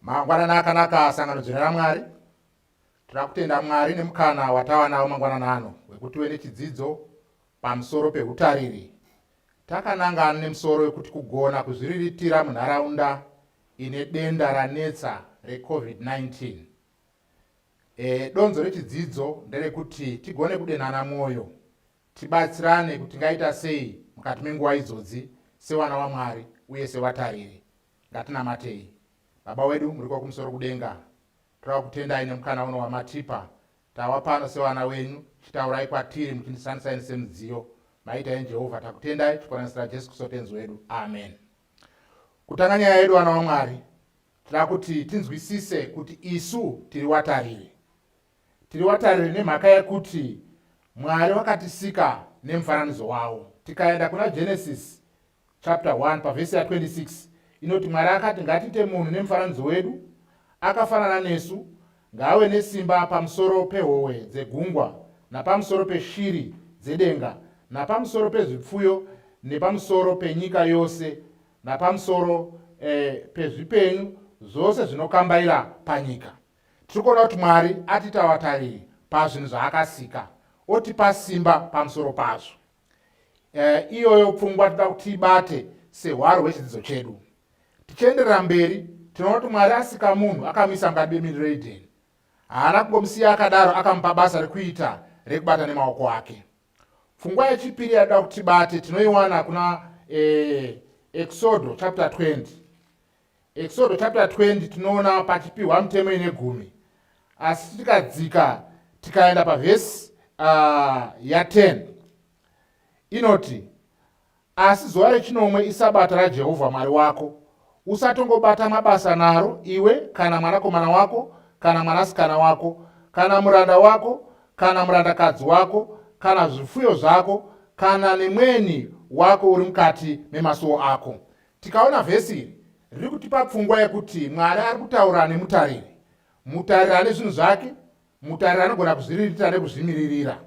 Mangwanana akanaka sangano dzvene raMwari. Tinoda kutenda Mwari nemukana watava nawo mangwanana ano wekuti wene chidzidzo pamusoro pehutariri. Takanangana nemusoro wekuti kugona kuzviriritira munharaunda ine denda ranetsa reCovid-19. E, donzo rechidzidzo nderekuti tigone kudenhana mwoyo, tibatsirane kuti ngaita sei mukati menguva idzodzi sewana waMwari uye sevatariri. Ngatinamatei. Baba wedu muriko kumusoro kudenga, torakutendai nemukana uno wamatipa. Tawa pano sevana wenyu, chitaurai kwatiri muchindisanisai nesemudziyo. Maita imi Jehovha, takutendai tichikonanisira Jesu Kristu Tenzi wedu. Amen. Kutanga nyaya yedu vana waMwari, tira kuti tinzwisise kuti isu tiri watariri. Tiri watariri nemhaka yekuti Mwari wakatisika nemufananidzo wawo. Tikaenda kuna Genesis chapter 1 pavhesi ya 26 inoti mwari akati ngatiite munhu nemufananidzo wedu akafanana nesu ngaave nesimba pamusoro pehowe dzegungwa napamusoro peshiri dzedenga napamusoro pezvipfuyo nepamusoro penyika yose napamusoro eh, pezvipenyu zvose zvinokambaira panyika tiri kuona kuti mwari atiita vatariri pazvinhu zvaakasika otipa simba pamusoro pazvo Eh, iyoyo pfungwa tinoda kuti tiibate sehwaro hwechidzidzo chedu tichienderera mberi tinoona kuti mwari asika munhu akamisa mukati bemiriro edeni haana kungomusiya akadaro akamupa basa rekuita rekubata nemaoko ake pfungwa yechipiri yatoda kuti tibate tinoiwana kuna eh, exodo chapter 20 Eksodo chapter 20 tinoona pachipiwa mutemo ine gumi asi tikadzika tikaenda pavhesi uh, ah, ya10 inoti asi zuva rechinomwe isabata rajehovha mwari wako usatongobata mabasa naro iwe kana mwanakomana wako kana mwanasikana wako kana muranda wako kana murandakadzi wako kana zvifuyo zvako kana nemweni wako uri mukati memasuwo ako Tikaona vhesi iri riri kutipa pfungwa yekuti Mwari ari kutaura nemutariri. Mutariri ane zvinhu zvake, mutariri anogona kuzviririta nekuzvimiririra.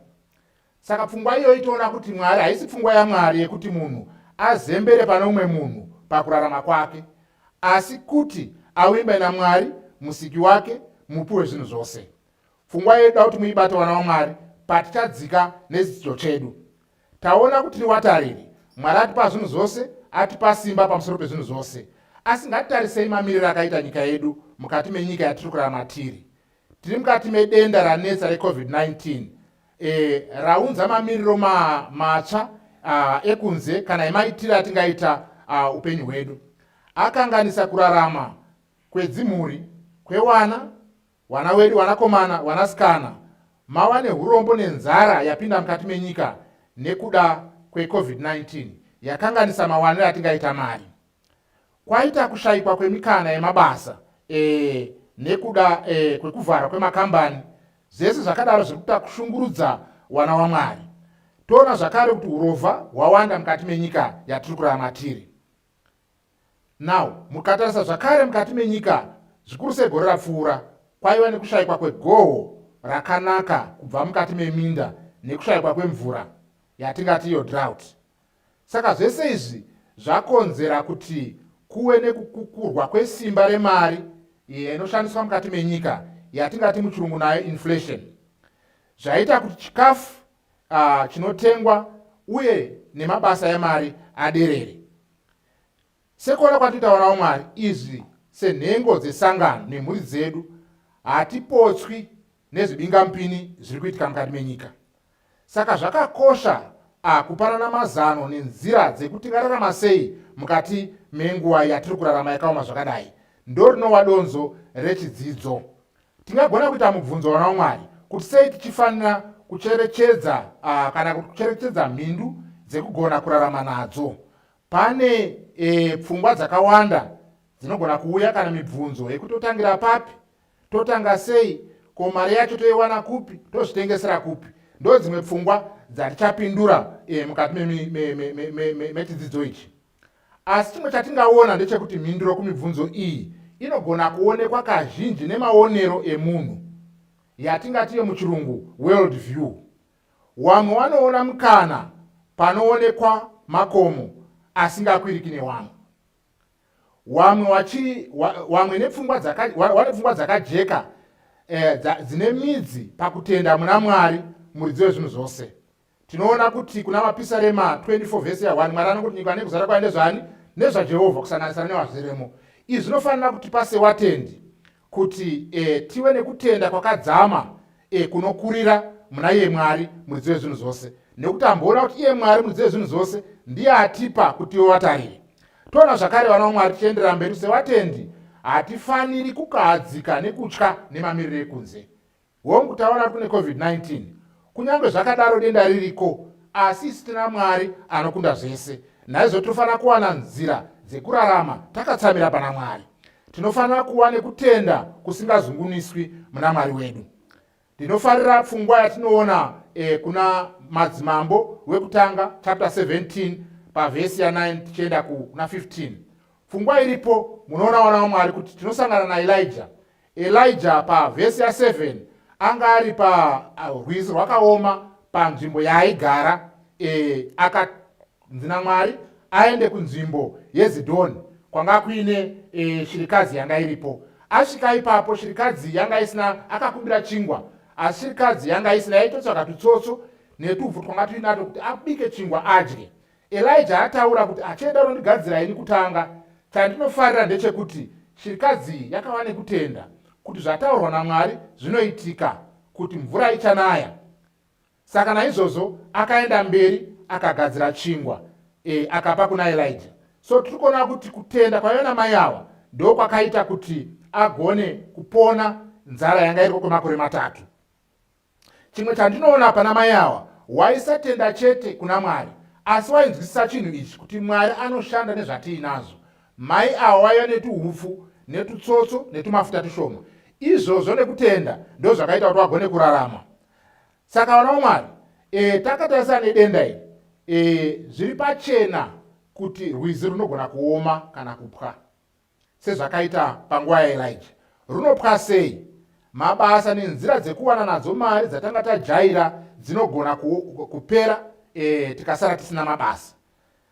Saka pfungwa iyoyi toona kuti Mwari haisi pfungwa yaMwari yekuti munhu azembere pane umwe munhu pakurarama kwake, asi kuti avimbe naMwari, musiki wake, mupi wezvinhu zvose. Pfungwa iyoyi toda kuti muibate vana vaMwari patichadzika nedzidzidzo chedu. Taona kuti tiri watariri. Mwari atipa zvinhu zvose, atipa simba pamusoro pezvinhu zvose. Asi ngatitarisei mamiriro akaita nyika yedu mukati menyika yatiri kurarama tiri. Tiri mukati medenda ranetsa reCovid-19 e, raunza mamiriro ma, matsva uh, ekunze kana emaitiro atingaita uh, upenyu hwedu akanganisa kurarama kwedzimhuri kwewana Wana wedu wanakomana wanasikana mawa nehurombo nenzara yapinda mukati menyika nekuda kweCovid-19 yakanganisa mawaniro atingaita mari. Kwaita kushayikwa kwemikana yemabasa e, nekuda e, kwekuvharwa kwemakambani zvese zvakadaro zviri kuita kushungurudza wana waMwari. Toona zvakare kuti urovha hwawanda mukati menyika yatiri kurarama tiri. Now, mukatarisa zvakare mukati menyika, zvikuru sei gore rapfuura, kwaiva nekushaikwa kwegoho rakanaka kubva mukati meminda nekushaikwa kwemvura yatingati iyo drought. Saka zvese izvi zvakonzera kuti kuwe nekukukurwa kwesimba remari iyo inoshandiswa mukati menyika yatingati muchirungu nayo inflation. Zvaita kuti chikafu uh, chinotengwa uye nemabasa emari aderere sekuona kwatitaurawo mwari izvi senhengo dzesangano nemhuri dzedu hatipotswi nezvibingamupini zviri kuitika mukati menyika saka zvakakosha akupanana mazano nenzira dzekuti tingararama sei mukati menguva yatiri kurarama yakaoma zvakadai ndo rinova donzo rechidzidzo Tingagona kuita mubvunzo wana waMwari kuti sei tichifanira kucherechedza uh, kana kuti kucherechedza mhindu dzekugona kurarama nadzo. Pane e, pfungwa dzakawanda dzinogona kuuya kana mibvunzo yekuti totangira papi, totanga sei, ko mari yacho toiwana kupi, tozvitengesera kupi. Ndo dzimwe pfungwa dzatichapindura e, mukati mechidzidzo ichi. Asi chimwe chatingaona ndechekuti mhinduro kumibvunzo iyi inogona kuonekwa kazhinji nemaonero emunhu, yatingati yemuchirungu world view. Wamwe wanoona mukana panoonekwa makomo asingakwiriki newamwe. Wamwe wachiri wamwe nepfungwa dzaka wane pfungwa dzakajeka eh, dzine midzi pakutenda muna Mwari muridzi wezvinhu zvose. tinoona kuti kuna mapisarema 24 vhesi ya1 mwari anokuti nyika nekuzara kwayo ndezvani nezvajehovha kusanganisira nevazviremo izvi zvinofanira kuti pase watendi kuti e, tive nekutenda kwakadzama e, kunokurira muna iye mwari muridzi wezvinhu zvose nekuti amboona kuti iye mwari muridzi wezvinhu zvose ndiye atipa kuti iwe watarire toona zvakare vana vamwari tichienderera mberi sewatendi hatifaniri kukahadzika nekutya nemamiriro ekunze Hongu, taona kuti kune COVID-19. Kunyange zvakadaro denda ririko, asi isu tina Mwari anokunda zvese. Naizvo tinofanira kuwana nzira dzekurarama takatsamira pana Mwari. Tinofanira kuva nekutenda kusingazunguniswi muna Mwari wedu. Ndinofarira pfungwa yatinoona eh, kuna Madzimambo wekutanga chapter 17 pavhesi ya9 tichienda kuna 15 pfungwa iripo munoona wana wamwari kuti tinosangana naelija Elijah pavhesi ya7 anga ari parwizi rwakaoma panzvimbo yaaigara e, akanzi namwari aende kunzvimbo yezidhoni kwanga kuine e, shirikadzi yanga iripo asvika ipapo shirikadzi yanga isina akakumbira chingwa asi shirikadzi yanga isina yaitotsvaka tutsotso netuvhu twanga tuinato kuti abike chingwa adye Elijah ataura kuti achaenda unondigadzira ini kutanga. Chandinofarira ndechekuti chirikadzi iyi yakava nekutenda kuti zvataurwa naMwari zvinoitika, kuti mvura ichanaya. Saka naizvozvo akaenda mberi akagadzira chingwa e, akapa kuna Elijah. So tiri kuona kuti kutenda kwaiva namai awa ndo kwakaita kuti agone kupona nzara yanga iriko kwemakore matatu. Chimwe chandinoona pana mai awa, waisatenda chete kuna Mwari, asi wainzwisisa chinhu ichi kuti Mwari anoshanda nezvatiinazvo. Mai awa waiva netuhupfu, netutsotso, netumafuta tushoma. Izvozvo nekutenda ndozvakaita kuti wagone kurarama. Saka vana vaMwari, e, takatarisana nedenda iri, e, zviri pachena kuti rwizi runogona kuoma kana kupwa. sezvakaita panguva yaElija. Runopwa sei? Mabasa nenzira dzekuwana nadzo mari dzatanga tajaira dzinogona kupera e, tikasara tisina mabasa.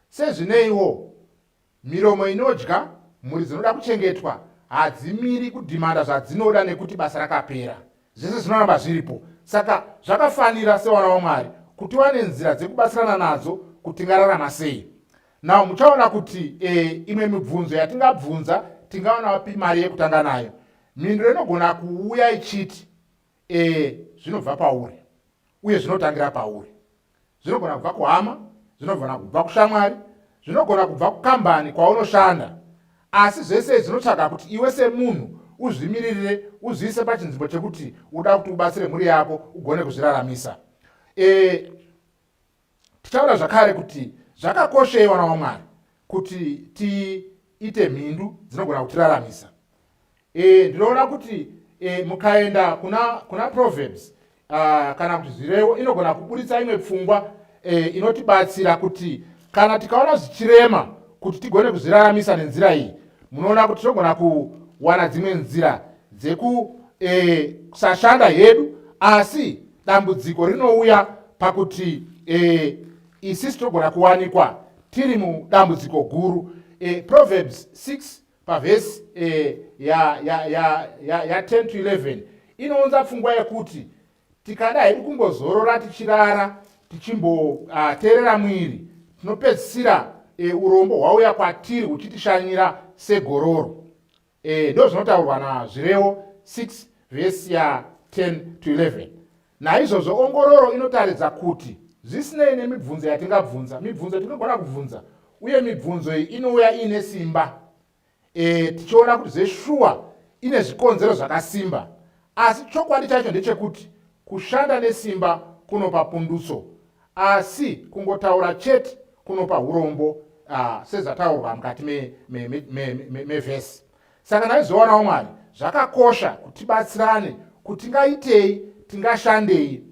Sezvineiwo, miromo inodya mhuri dzinoda kuchengetwa hadzimiri kudhimanda zvadzinoda nekuti basa rakapera zvese zvinoramba zviripo saka zvakafanira sewana wamwari kuti wane nzira dzekubatsirana nadzo kuti ngararama sei now muchaona kuti e, imwe mibvunzo yatingabvunza tingaona vapi mari yekutanga nayo mhinduro inogona kuuya ichiti e, zvinobva pauri uye zvinotangira pauri zvinogona kubva kuhama zvinogona kubva kushamwari zvinogona kubva kukambani kwaunoshanda asi zvese zvinotsvaga kuti iwe semunhu uzvimiririre uzviise pachinzvimbo chekuti uda kuti ubatsire mhuri yako ugone kuzviraramisa e, Tichaona zvakare kuti zvakakoshei vana vamwari kuti tiite mhindu dzinogona kutiraramisa. E, ndinoona kuti e, mukaenda kuna, kuna proverbs uh, kana kuti zvirevo inogona kuburitsa imwe pfungwa e, inotibatsira kuti kana tikaona zvichirema kuti tigone kuzviraramisa nenzira iyi munoona kuti tinogona kuwana dzimwe nzira dzekusashanda e, hedu asi dambudziko rinouya pakuti e, isisi togona kuwanikwa tiri mudambudziko guru e, proverbs 6 pavhesi e, ya, ya, ya, ya, ya 10 to 11 inounza pfungwa yekuti tikada hedu kumbozorora tichirara tichimboteerera uh, mwiri tinopedzisira e, urombo hwauya kwatiri huchitishanyira segororo Eh, ndozvinotaurwa nazvirewo 6 vhesi ya 10 to 11 naizvozvo ongororo inotaridza kuti zvisinei nemibvunzo yatingabvunza mibvunzo yatingagona kubvunza uye mibvunzo iyi inouya iine simba e, tichiona kuti zveshuwa ine zvikonzero zvakasimba asi chokwadi chacho ndechekuti kushanda nesimba kunopa pundutso Asi kungotaura chete kunopa hurombo uh, sezvataurwa mukati mevhesi me, me, me, me, me saka ndaizvionawo mwari zvakakosha kutibatsirane kuti ngaitei tingashandei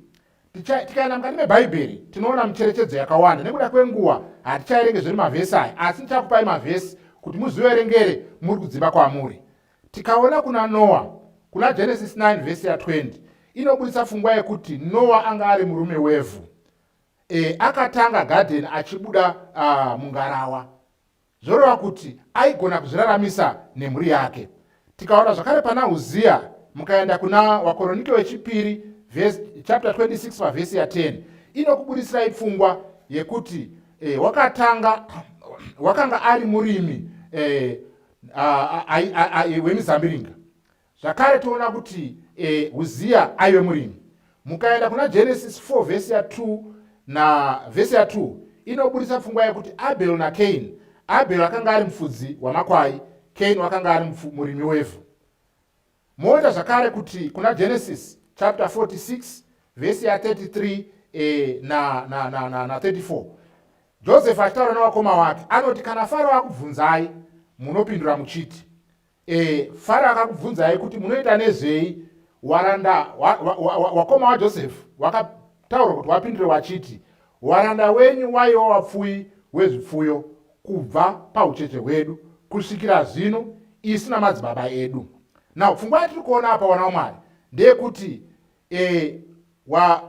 tikaenda mukati mebhaibheri tinoona micherechedzo yakawanda nekuda kwenguva hatichaerenge zviri mavhesi aya asi ndichakupai mavhesi kuti muziverengere muri kudzimba kwamuri Tikaona kuna Noa, kuna Genesis 9 vhesi ya 20 inobudisa fungwa yekuti Noa anga ari murume wevhu. E, akatanga gadheni achibuda uh, mungarawa, zvoreva kuti aigona kuzviraramisa nemhuri yake. Tikaona zvakare pana Uziya, mukaenda kuna Wakoronike wechipiri chapter 26 pavhesi ya 10 inokubudisirai pfungwa yekuti e, wakatanga wakanga ari murimi e, hwemizambiringa ah, ah, ah, zvakare toona kuti eh, uziya aive murimi mukaenda kuna genesis 4 vhesi ya 2 na vhesi ya 2 inoburitsa pfungwa yekuti abel nakain abel akanga ari mufudzi wamakwai kain wakanga ari murimi wevhu Moona zvakare kuti kuna Genesis chapter 46 vhesi ya 33 eh, na, na, na, na, na 34 Joseph achitaura nevakoma wake anoti kana Faro akubvunzai munopindura muchiti eh, Faro akakubvunzai kuti munoita nezvei waranda wakoma wa, wa, wa, wa waJoseph wakataura kuti wapindure wachiti waranda wenyu waiwa wapfuyi wezvipfuyo kubva paucheche hwedu kusvikira zvino isu namadzibaba edu now pfungwa yatiri kuona apa wana wamwari ndeyekuti e, wa,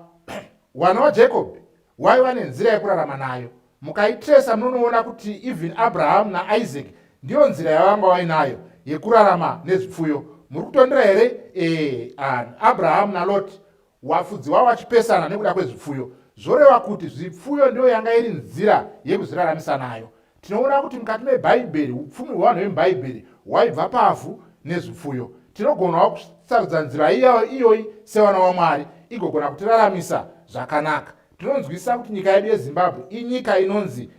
wana wajacob waiva nenzira yekurarama nayo mukaitresa munonoona kuti even abrahamu naisaac ndiyo nzira yavanga vainayo yekurarama nezvipfuyo muri kutondera here e, abrahamu naloti Wafudzi wavo vachipesana nekuda kwezvipfuyo zvoreva kuti zvipfuyo ndiyo yanga iri nzira yekuzviraramisa nayo. Tinoona kuti mukati meBhaibheri upfumi hwevanhu vemuBhaibheri hwaibva pavhu nezvipfuyo. Tinogonawo kusarudza nzira iyayo iyoyi sevana vaMwari igogona kutiraramisa zvakanaka. Tinonzwisisa kuti nyika yedu yeZimbabwe inyika inonzi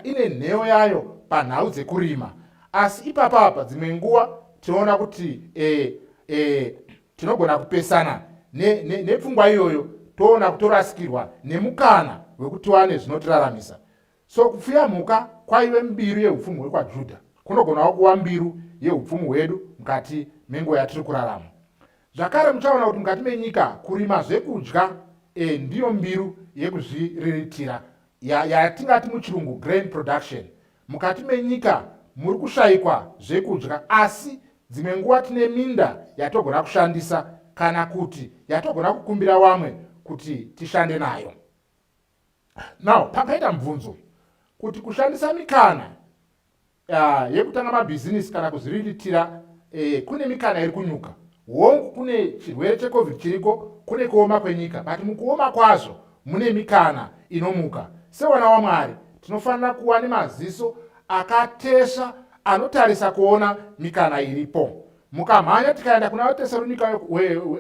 ine nheyo yayo panhau dzekurima asi ipapapa dzimwe nguva tinoona kuti e, e, Tinogona kupesana nepfungwa ne, ne iyoyo toona kutorasikirwa nemukana wekuti wane zvinotiraramisa. So kupfuya mhuka kwaive mbiru yeupfumi hwekwaJudha kunogonawo kuva mbiru yeupfumi hwedu mukati menguva yatiri kurarama. Zvakare muchaona kuti mukati menyika kurima zvekudya e, ndiyo mbiru yekuzviriritira yatingati ya muchirungu grain production Mukati menyika muri kushaikwa zvekudya asi dzimwe nguva tine minda yatogona kushandisa kana kuti yatogona kukumbira vamwe kuti tishande nayo. Now, pangaita mubvunzo kuti kushandisa mikana uh, yekutanga mabhizinisi kana kuzviriritira eh, kune mikana iri kunyuka hongu kune chirwere checovid chiriko kune kuoma kwenyika but mukuoma kwazvo Mune mikana inomuka. Sevana waMwari, tinofanira kuwa nemaziso akatesva anotarisa kuona mikana iripo. Mukamhanya tikaenda kuna vatesaronika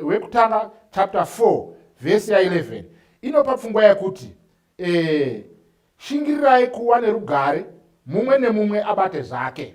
wekutanga chapter 4 vhesi ya 11 inopa pfungwa yekuti e, shingirirai kuwa nerugare mumwe nemumwe abate zvake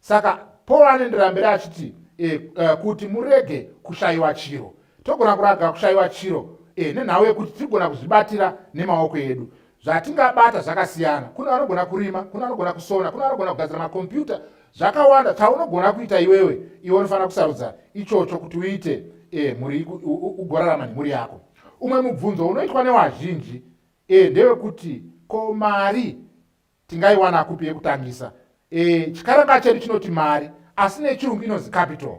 saka paul anendirambira achiti e, uh, kuti murege kushayiwa chiro togona kuraga kushayiwa chiro e, nenhau yekuti tirigona kuzvibatira nemaoko edu zvatingabata zvakasiyana kune vanogona kurima kune vanogona kusona kune vanogona kugadzira makombiyuta zvakawanda chaunogona kuita iwewe iwe unofanira kusarudza ichocho kuti uite e, mhuri ugorarama nemhuri yako umwe mubvunzo unoitwa newazhinji e, ndewekuti ko mari tingaiwana kupi yekutangisa e, chikaranga chedu chinoti mari asi nechirungu inonzi capital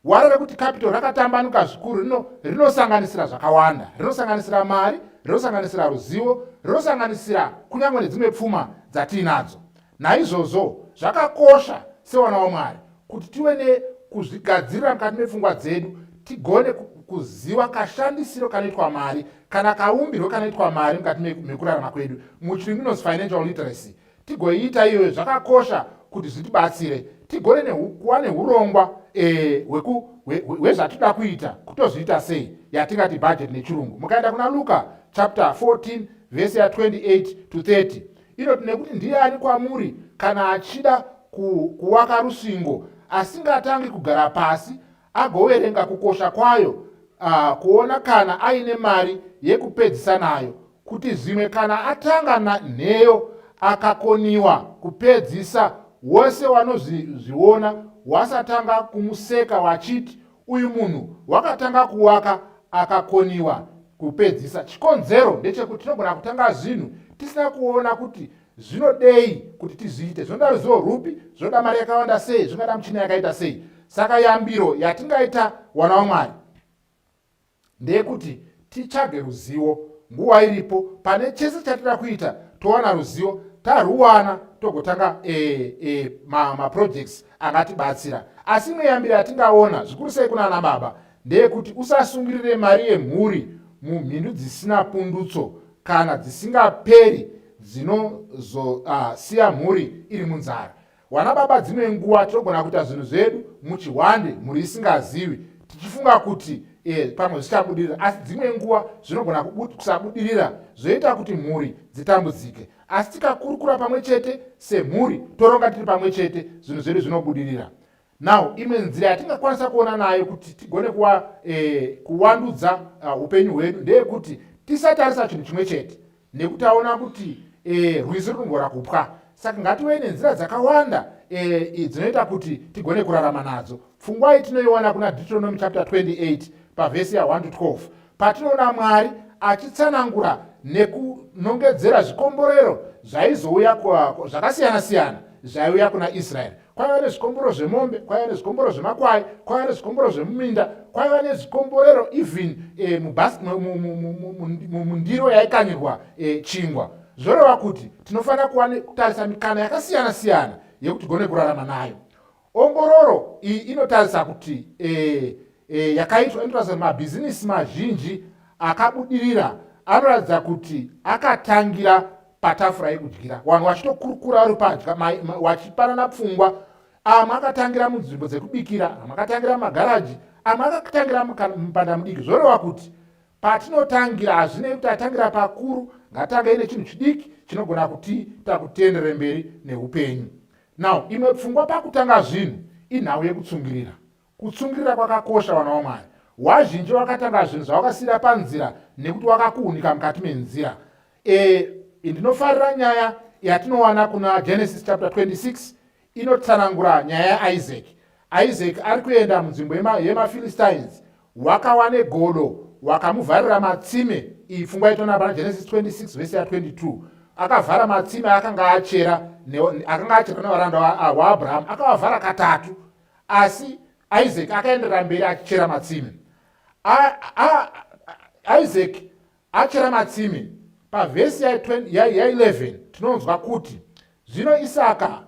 waro rekuti capital rakatambanuka zvikuru rino rinosanganisira zvakawanda rinosanganisira mari rinosanganisira ruzivo rinosanganisira kunyange nedzimwe pfuma dzatiinadzo naizvozvo zvakakosha sewana wamwari kuti tive nekuzvigadzirira mukati mepfungwa dzedu tigone kuziva kashandisiro kanoitwa mari kana kaumbirwo kanoitwa mari mukati mekurarama kwedu muchirungu inonzi financial literacy tigoiita iyoyo zvakakosha kuti zvitibatsire tigone kuva neurongwa eh, hwezvatinoda kuita kutozviita sei yatingati budget nechirungu mukaenda kuna luka chapter 14 vhesi ya 28 to 30 inoti nekuti ndiani kwamuri kana achida ku, kuwaka rusvingo asingatangi kugara pasi agoverenga kukosha kwayo uh, kuona kana aine mari yekupedzisa nayo kuti zvimwe kana atanga na, nheyo akakoniwa kupedzisa wose wanozviona wasatanga kumuseka wachiti Uyu munhu wakatanga kuwaka akakoniwa kupedzisa. Chikonzero ndechekuti tinogona kutanga zvinhu tisina kuona kuti zvinodei kuti tizviite. Zvinoda ruzivo rwupi, zvinoda mari yakawanda sei, zvingada michina yakaita sei. Saka yambiro yatingaita wana waMwari ndeyekuti titsvage ruzivo nguva iripo pane chese chatida kuita towana ruzivo tarwuwana togotanga e, e, maprojects ma angatibatsira asi imwe yambiro yatingaona zvikuru sei kunana baba ndeyekuti usasungirire mari yemhuri mumhindu dzisina pundutso kana dzisingaperi dzinozosiya ah, uh, mhuri iri munzara Wana baba dzimwe nguva tinogona kuita zvinhu zvedu muchihwande mhuri isingazivi tichifunga kuti e, pamwe zvichabudirira asi dzimwe nguva zvinogona kusabudirira zvoita kuti mhuri dzitambudzike asi tikakurukura pamwe chete semhuri toronga tiri pamwe chete zvinhu zvedu zvinobudirira now imwe nzira yatingakwanisa kuona nayo kuti tigone kuwa, e, kuwandudza ah, upenyu uh, hwedu ndeyekuti tisatarisa chinhu chimwe chete nekuti aona kuti e, rwizi runogona kupwa saka ngative nenzira dzakawanda e, dzinoita kuti tigone kurarama nadzo pfungwa iyi tinoiona kuna deuteronomy chapter 28 pavhesi ya 1 to 12 patinoona mwari achitsanangura nekunongedzera zvikomborero zvaizouya zvakasiyana siyana zvaiuya kuna israeri kwaiva nezvikomboro zvemombe kwaiva nezvikomboro zvemakwai kwaiva nezvikomboro zvemuminda kwaiva nezvikomborero even eh, mundiro yaikanyirwa eh, chingwa zvoreva kuti tinofanira kutarisa mikana yakasiyana siyana yekuti gone kurarama nayo ongororo iyi inotarisa kuti eh, yakaitwa inotarisa kuti mabhizinisi mazhinji akabudirira anoratidza kuti akatangira patafura yekudyira wanhu wachitokurukura vari padya wachipanana pfungwa amwe akatangira munzvimbo dzekubikira amwe akatangira mumagaraji amwe akatangira mupanda mudiki zvoreva kuti patinotangira hazvinei kuti atangira pakuru ngatanga ine chinhu chidiki chinogona kuti takutenderere mberi neupenyu now imwe pfungwa pakutanga zvinhu inhau yekutsungirira Kutsungirira kwakakosha vana waMwari. Wazhinji wakatanga zvinhu zvawakasiira panzira nekuti wakakuunika mukati menzira. E, ndinofarira nyaya yatinowana kuna Genesis chapter 26 inotsanangura nyaya yaIsaki. Isaki ari kuenda munzvimbo yemaPhilistines wakawane godo wakamuvharira matsime iyi pfungwa yaitoona pana Genesis 26 vese ya 22 akavhara matsime akanga achera akanga achera nevaranda waAbraham akavavhara katatu asi isaac akaenderera mberi achichera matsime isaac achera matsime pavhesi ya11 tinonzwa kuti zvino isaka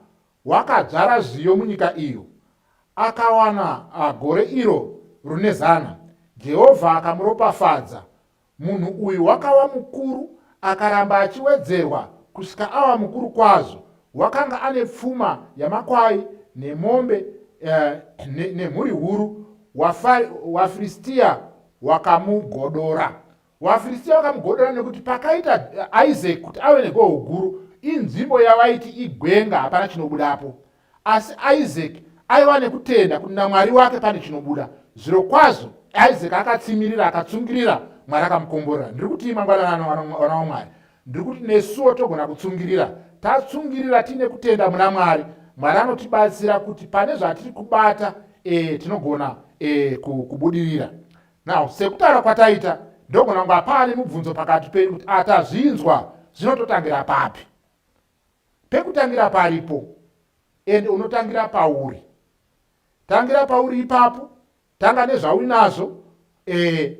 wakadzvara zviyo munyika iyo akawana gore iro rune zana jehovha akamuropafadza Munhu uyu wakava mukuru akaramba achiwedzerwa kusvika ava mukuru kwazvo. Wakanga ane pfuma yamakwai nemombe eh, nemhuri ne huru. WaFiristia wakamugodora. WaFiristia wakamugodora nekuti pakaita eh, Isaac kuti ave negoho guru, inzvimbo yavaiti igwenga, hapana chinobudapo. Asi Isaki aiva nekutenda kuti naMwari wake pane chinobuda. Zvirokwazvo, Isaki akatsimirira, akatsungirira, Mwari akamukomborera. Ndiri kuti mangwanani ano, vana vaMwari, ndiri kuti nesuwo togona kutsungirira. Tatsungirira tiine kutenda muna Mwari, Mwari anotibatsira kuti pane zvatiri kubata e, tinogona e, kubudirira. Now, sekutaura kwataita, ndogona kunge paane mubvunzo pakati penyu kuti atazvinzwa zvinototangira papi. pekutangira paripo and unotangira pauri tangira pauri ipapo tanga nezvauinazvo eh,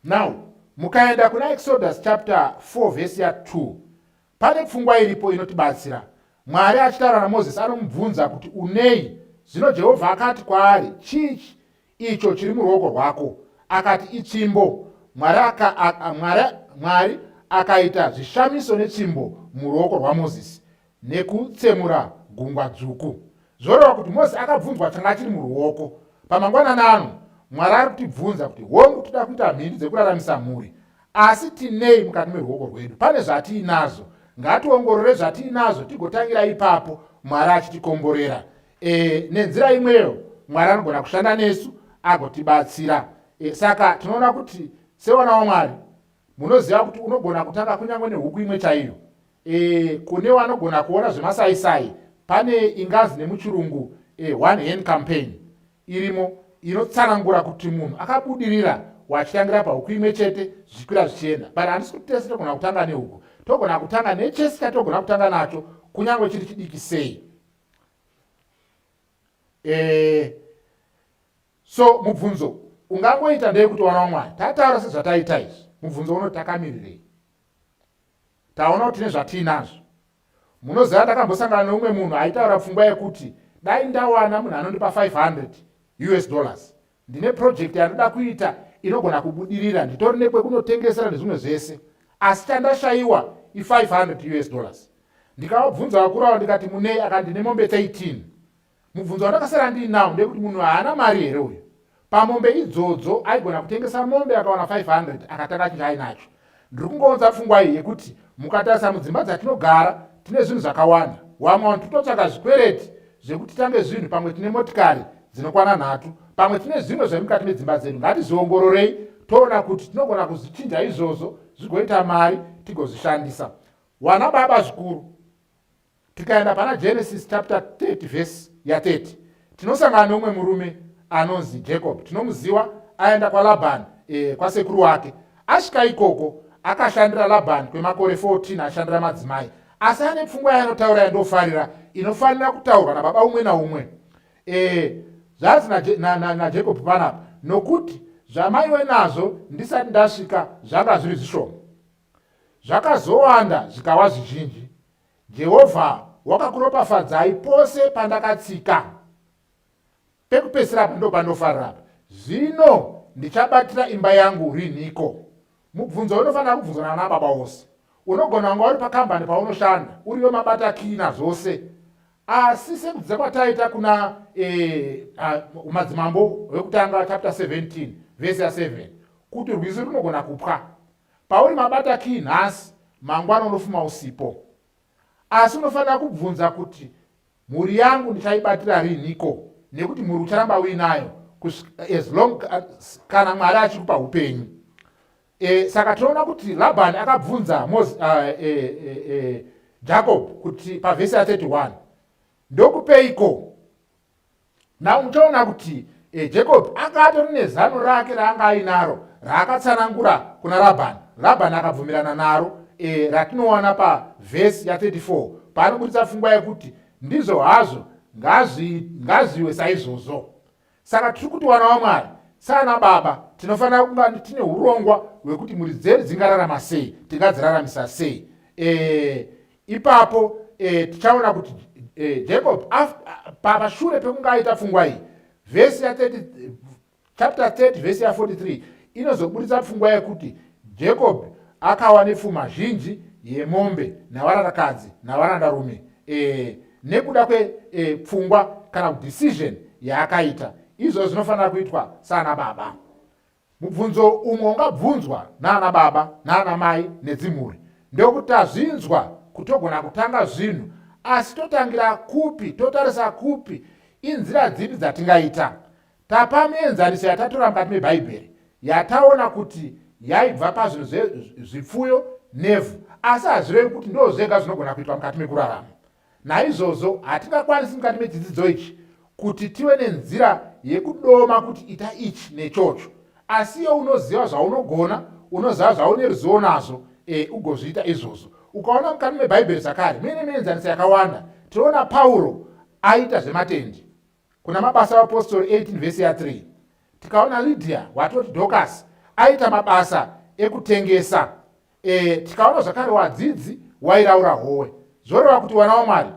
now mukaenda kuna exodus chapter 4 vhesi ya 2 pane pfungwa iripo inotibatsira mwari achitaura namozisi anomubvunza kuti unei zvino jehovha akati kwaari chii icho chiri muruoko rwako akati itsvimbo mwari aka, a, mwari, mwari akaita zvishamiso netsvimbo muruoko rwamozisi nekutsemura gungwa dzvuku zvoreva kuti mozisi akabvunzwa changa chiri muruoko pamangwanani ano mwari ari kutibvunza kuti hongu toda kuita mhindu dzekuraramisa mhuri asi tinei mukati meruoko rwedu pane zvatiinazo ngationgorore zvatiinazo tigotangira ipapo mwari achitikomborera E, nenzira imweyo Mwari anogona kushanda nesu agotibatsira. E, saka tinoona kuti sevana waMwari munoziva kuti unogona kutanga kunyange nehuku imwe chaiyo. E, kune wanogona kuona zvemasaisai pane ingazi nemuchirungu e, one hand campaign irimo inotsanangura kuti munhu akabudirira wachitangira pahuku imwe chete zvichikwira zvichienda but handisi kuti tese togona kutanga nehuku togona kutanga nechese chatogona kutanga nacho kunyange chiri chidiki sei eh, so mubvunzo ungangoita ndei kuti wana wamwari tataura sezvataita izvi mubvunzo uno takamirirei taona kuti tine zvatiinazvo munoziva ndakambosangana neumwe munhu aitaura pfungwa yekuti dai ndawana munhu anondipa 500 us dollars ndine project yandida kuita inogona kubudirira nditori nekwekunotengesera nezvimwe zvese asi chandashayiwa i500 us dollars ndikavabvunza vakuru avo ndikati munei akandine mombe 13 mubvunzo wandakasara ndiinawo ndekuti munhu haana mari here uyu pamombe idzodzo aigona kutengesa mombe akawana 500 akatanga chinhu ainacho Ndiri kungounza pfungwa iyi yekuti mukatarisa mudzimba dzatinogara tine zvinhu zvakawanda. Wamwe wanhu titotsvaga zvikwereti zvekuti tange zvinhu pamwe tine motikari dzinokwana nhatu pamwe tine zvimwe zvemukati medzimba dzedu ngatizviongororei toona kuti tinogona kuzvichinja izvozvo zvigoita mari tigozvishandisa wana baba zvikuru Tikaenda pana Genesis chapter 30 verse ya 30 tinosangana neumwe murume anonzi Jacob. Tinomuziwa aenda kwaLaban eh, kwasekuru wake. Asvika ikoko akashandira Laban kwemakore 14 ashandira madzimai. Asi ane pfungwa yaanotaura yandofarira inofanira kutaurwa nababa umwe naumwe. Eh, zvanzi naJacob na, na, na panapa nokuti zvamaiwe nazvo ndisati ndasvika zvanga zviri zvishoma. Zvakazowanda zvikawa zvizhinji. Jehovha wakakuropafadzai pose pandakatsika. Pekupedzisira apa ndopanofarira apa. Zvino ndichabatira imba yangu rinhiko? Mubvunzo unofanira kubvunzwa nana baba wose. Unogona kunge uri pakambani paunoshanda, uriwe mabata kina zvose. Asi sekudzidza kwataita kuna eh, uh, madzimambo vekutanga chapter 17 vese ya 7 kuti rwizi runogona kupwa Pauri mabata key nhasi mangwana unofuma usipo. Asi unofanira kubvunza kuti mhuri yangu ndichaibatira riniko nekuti mhuri ucharamba uinayo as long kana Mwari achikupa upenyu. E, saka tinoona kuti Labani akabvunza Moses, uh, e, e, e, Jacob kuti pavhesi ya 31 ndokupeiko now muchaona kuti e, jacob anga atori nezano rake raanga ainaro raakatsanangura kuna rabhani rabhani akabvumirana naro e, ratinowana pavhesi ya34 paanoburitsa pfungwa yekuti ndizvo hazvo ngazviwe saizvozvo saka tiri kuti wana wamwari saana baba tinofanira kunga tine urongwa hwekuti mhuri dzedu dzingararama sei tingadziraramisa sei e, ipapo e, tichaona kuti e, jacob pashure pekunge aita pfungwa iyi vhesi ya 30 chapter 30 vhesi ya 43 inozoburitsa pfungwa yekuti jacob akawa nepfuma zhinji yemombe navarandakadzi navarandarume e, nekuda kwepfungwa e, kana kudecision yaakaita izvozvo zvinofanira kuitwa sana baba Mubvunzo umwe ungabvunzwa naana baba naana mai nedzimhuri ndewekuti tazvinzwa kutogona kutanga zvinhu asi totangira kupi totarisa kupi inzira dzipi dzatingaita tapa mienzaniso yatatora mukati mebhaibheri yataona kuti yaibva pazvinhu zvezvipfuyo nevhu asi hazvirevi kuti ndo zvega zvinogona kuitwa mukati mekurarama Naizvozvo hatingakwanisi mukati mechidzidzo ichi kuti tive nenzira yekudoma kuti ita ichi nechocho asi iyo unoziva zvaunogona unoziva zvaune ruzivo nazvo e, ugozviita izvozvo ukaona mukati mebhaibheri zvakare muine mienzaniso yakawanda tinoona pauro aita zvematendi kuna mabasa apostori 18 vhesi ya 3 tikaona lydia watoti docas aita mabasa ekutengesa e, tikaona zvakare wadzidzi wairaura howe zvoreva kuti wana wamwari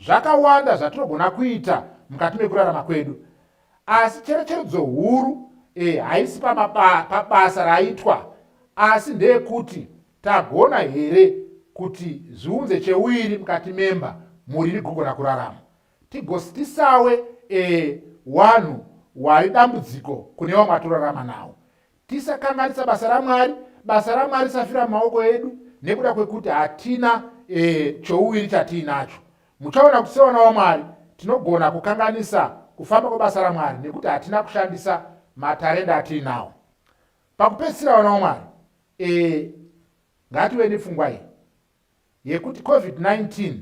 zvakawanda zvatinogona kuita mukati mekurarama kwedu asi cherecheredzo huru e, haisi pabasa raitwa asi ndeyekuti tagona here kuti zviunze cheuiri mukati memba mhuri rigogona kurarama Tigostisawe e wanhu wari dambudziko kune vamwe atorarama nawo. Tisakanganisa basa raMwari, basa raMwari risafira mumaoko edu nekuda kwekuti hatina e chouviri chatiinacho. Muchaona kuti sevana vaMwari tinogona kukanganisa kufamba kwebasa raMwari nekuti hatina kushandisa matarenda atiinawo. Pakupedzisira vana vaMwari e ngative nepfungwa iyi. yekuti Covid-19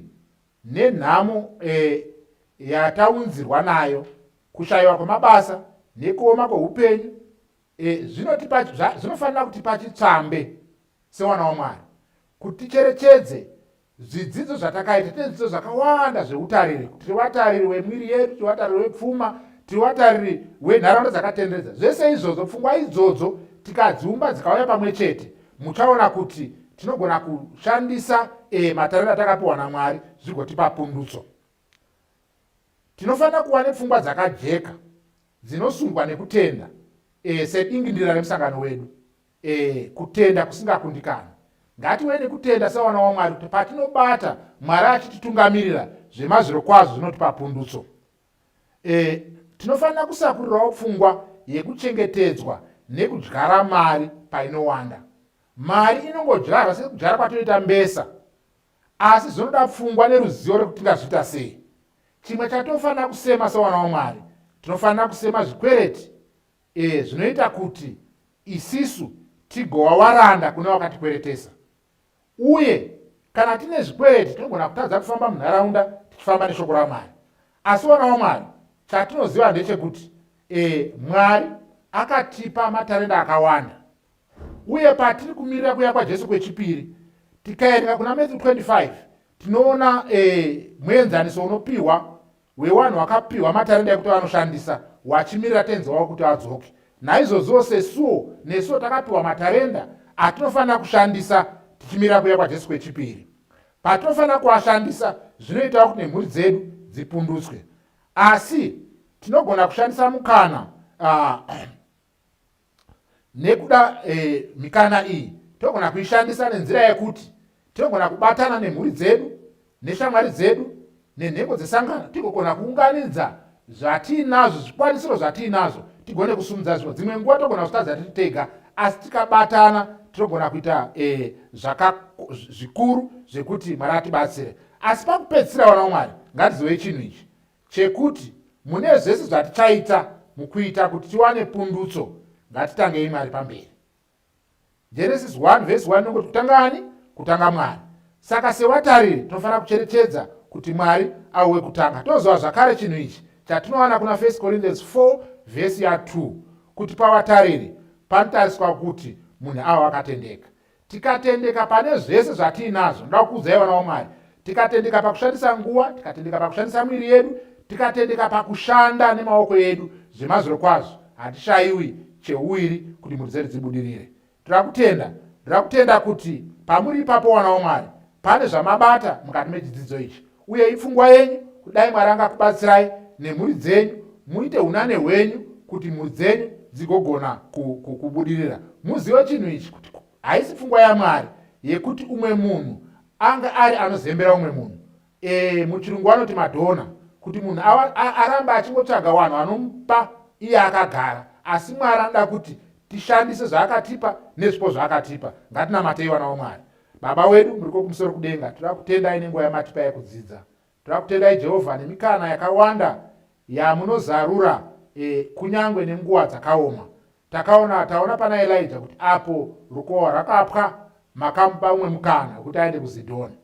nenhamo e, yataunzirwa nayo, kushaiwa kwemabasa nekuoma kwehupenyu e, zvinotipa zvinofanira kutipa chitsvambe sewana waMwari kuti ticherechedze zvidzidzo zvatakaita tine zvidzidzo zvakawanda zveutariri tiri vatariri wemwiri yedu tiri vatariri wepfuma tiri vatariri wenharaunda dzakatenderedza zvese izvozvo pfungwa idzodzo tikadziumba dzikauya pamwe chete muchaona kuti tinogona kushandisa e, matariro atakapiwa namwari zvigotipa pundutso tinofanira kuva nepfungwa dzakajeka dzinosungwa nekutenda e, sedingindira remusangano wedu e, kutenda kusingakundikani ngatiwe nekutenda sevana wamwari kuti patinobata mwari achititungamirira zvemazviro kwazvo zvinotipa pundutso E, tinofanira kusakurirawo pfungwa yekuchengetedzwa nekudyara mari painowanda. Mari inongodyarwa sekudyara kwatoita mbesa, asi zvinoda pfungwa neruzivo rekuti tingazviita sei. Chimwe chatofanira kusema sevana wamwari, tinofanira kusema zvikwereti e, zvinoita kuti isisu tigowa waranda kune wakatikweretesa. uye kana tine zvikwereti tinogona kutadza kufamba munharaunda tichifamba neshoko ramwari asi vana vamwari chatinoziva ndechekuti e, mwari akatipa matarenda akawanda uye patiri kumirira kuya kwajesu kwechipiri tikaereka kuna matthew 25 tinoona e, muenzaniso unopiwa hwewanhu wakapihwa matarenda ekuti vanoshandisa wachimirira tenzi wavo kuti adzoke naizvozviwo sesuwo nesuwo takapiwa matarenda atinofanira kushandisa tichimirira kuya kwajesu kwechipiri patinofanira kuashandisa zvinoitawo kuti nemhuri dzedu dzipundutswe asi tinogona kushandisa mukana uh, Nekuda e, mikana iyi tinogona kuishandisa nenzira yekuti tinogona kubatana nemhuri dzedu neshamwari dzedu nenhengo dzesangano tigogona kuunganidza zvatiinazvo zvikwanisiro zvatiinazvo tigone kusumudza zvinhu dzimwe nguva togona kuzvitadza tiri tega asi tikabatana tinogona kuita e, zvaka zvikuru zvekuti mwari atibatsire asi pakupedzisira vana wamwari ngatizivei chinhu ichi chekuti mune zvese zvatichaita mukuita kuti tiwane pundutso ngatitangei mwari pamberi genesis 1 vhesi 1 nokoti kutanga ani kutanga mwari saka sewatariri tinofanira kucherechedza kuti mwari auwe kutanga toziva zvakare chinhu ichi chatinowana kuna 1 corinthians 4 vhesi ya 2 kuti pawatariri panotariswa kuti munhu awo akatendeka tikatendeka pane zvese zvatiinazvo ndoda kukuudzai vana vamwari tikatendeka pakushandisa nguva tikatendeka pakushandisa mwiri yedu tikatendeka pakushanda nemaoko edu zvemazviro kwazvo hatishaiwi cheuiri kuti mhuri dzedu dzibudirire toda kutenda ndoda kutenda kuti pamuri ipapo wana wamwari pane zvamabata mukati mechidzidzo ichi uye ipfungwa yenyu kudai mwari angakubatsirai nemhuri dzenyu muite unane hwenyu kuti mhuri dzenyu dzigogona kubudirira muzive chinhu ichi kuti haisi pfungwa yamwari yekuti umwe munhu anga ari anozembera umwe munhu e, muchirungu vanoti madhona kuti munhu aramba achingotsvaga vanhu vanomupa iye akagara asi mwari anoda kuti tishandise zvaakatipa nezvipo zvaakatipa ngatinamatei vana vamwari Baba wedu muriko kumusoro kudenga, tinoda kutendai nenguva yamatipa yekudzidza. Tinoda kutendai Jehovha nemikana yakawanda yamunozarura e, kunyange nenguva dzakaoma. Takaona taona pana Elija kuti apo rukohwa rakapwa makamupa umwe mukana wekuti aende kuZidhoni.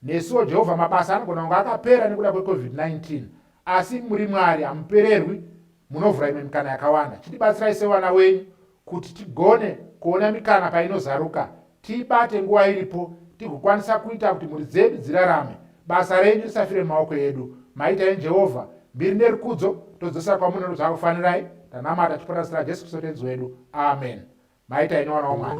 Nesuwo Jehovha mabasa anogona kunge akapera nekuda kweCovid-19, asi muri Mwari hamupererwi, munovhura imwe mikana yakawanda. Chitibatsirai sevana wenyu kuti tigone kuona mikana painozaruka tiibate nguva iripo tigokwanisa kuita kuti mhuri dzedu dzirarame basa renyu risafire mumaoko edu maita ini jehovha mbiri nerukudzo todzosera kwamunono zvakufanirai tanamata tipota zita rajesu kristu tenzi wedu amen maita ini wana wamwari